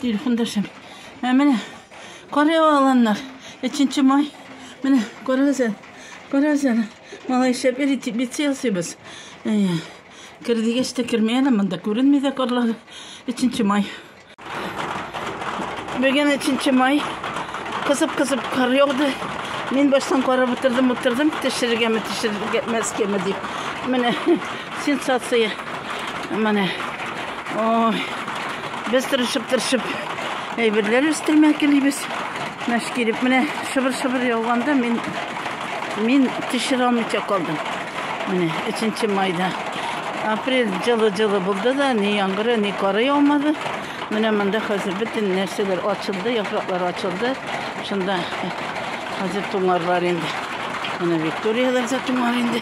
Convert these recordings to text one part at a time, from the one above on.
Телефондашым. Ә менә карый аланнар. 3 май. Менә күрәсез әле. Күрәсез әле. Малайча бер бит ясыйбыз. Кер дигәч тә керми әле монда. Күренми дә карлар. 3 май. Бүген 3 май. Кысып-кысып кар яуды. Мин баштан карап утырдым, утырдым, төшергәме, төшергәмәскәме дип. Менә Сенсация. Менә. Ой. Без тырышып-тырышып әйберләр өстәмә килибез. Мәш килеп менә шыбыр-шыбыр яуганда мин мин тишерә алмыйча калдым. Менә 3 майда. Апрель җылы-җылы булды да, ни яңгыры, ни кары яумады. Менә монда хәзер бөтен нәрсәләр ачылды, яфраклар ачылды. Шунда хәзер туңарлар инде. Менә Викторияләр дә туңар инде.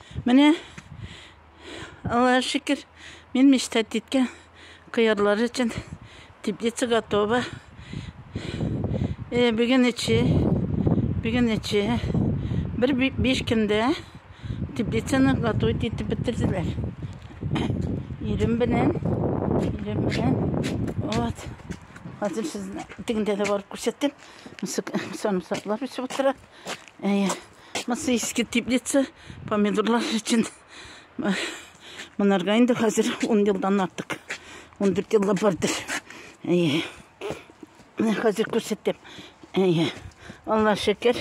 Менә, Аллаһ шикер, мин мечтать титкән кыярлар өчен теплица готова. Э, Бүген эче, бүген эче. Бер биш көндә теплицаны готовы итеп бетерделәр. Ирем белән, ирем белән. Вот. Хәзер сезне тегендә дә барып күрсәтәм. Сарымсаклар үсеп утыра. Әйе. Масыйский теплица помидорлар өчен монарга инде хәзер 10 елдан артык. 14 елга бардыр. Әйе. Менә хәзер күрсәтәм. Әйе. Алла шөкер.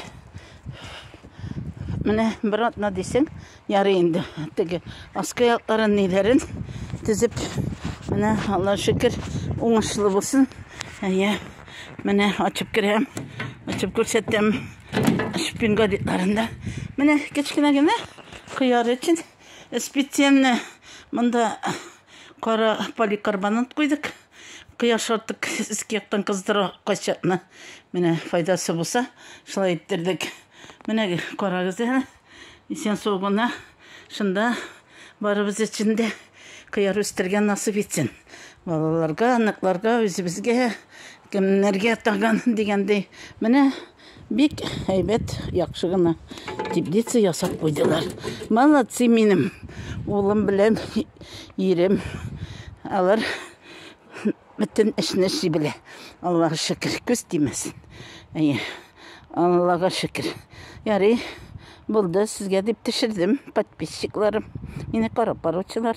Менә бер атна дисең, Ярый инде, теге аскы якларын ниләрен тезеп, менә Алла шөкер, уңышлы булсын. Әйе, менә ачып керәм, ачып күрсәтәм. Шпин гадитларында. Менә кечкенә генә кыяр өчен специально монда кара поликарбонат куйдык. Кыяр шартык иске яктан кыздыра кайчакны. Менә файдасы булса, шулай иттердек. Менә карагыз әле. Исән сау гына шунда барыбыз өчен дә кыяр үстергән насып итсен. Балаларга, аныкларга, үзебезгә, кемнәргә тагын дигәндәй. Менә бик әйбәт, яхшы гына теплица ясап куйдылар. Молодцы минем улым белән ирем. Алар Бөтен эшне эшли белә. Аллага шөкер, күз тимәсен. Әйе. Аллага шөкер. Ярый, булды, сезгә дип төшердем, подписчикларым. Мине карап баручылар.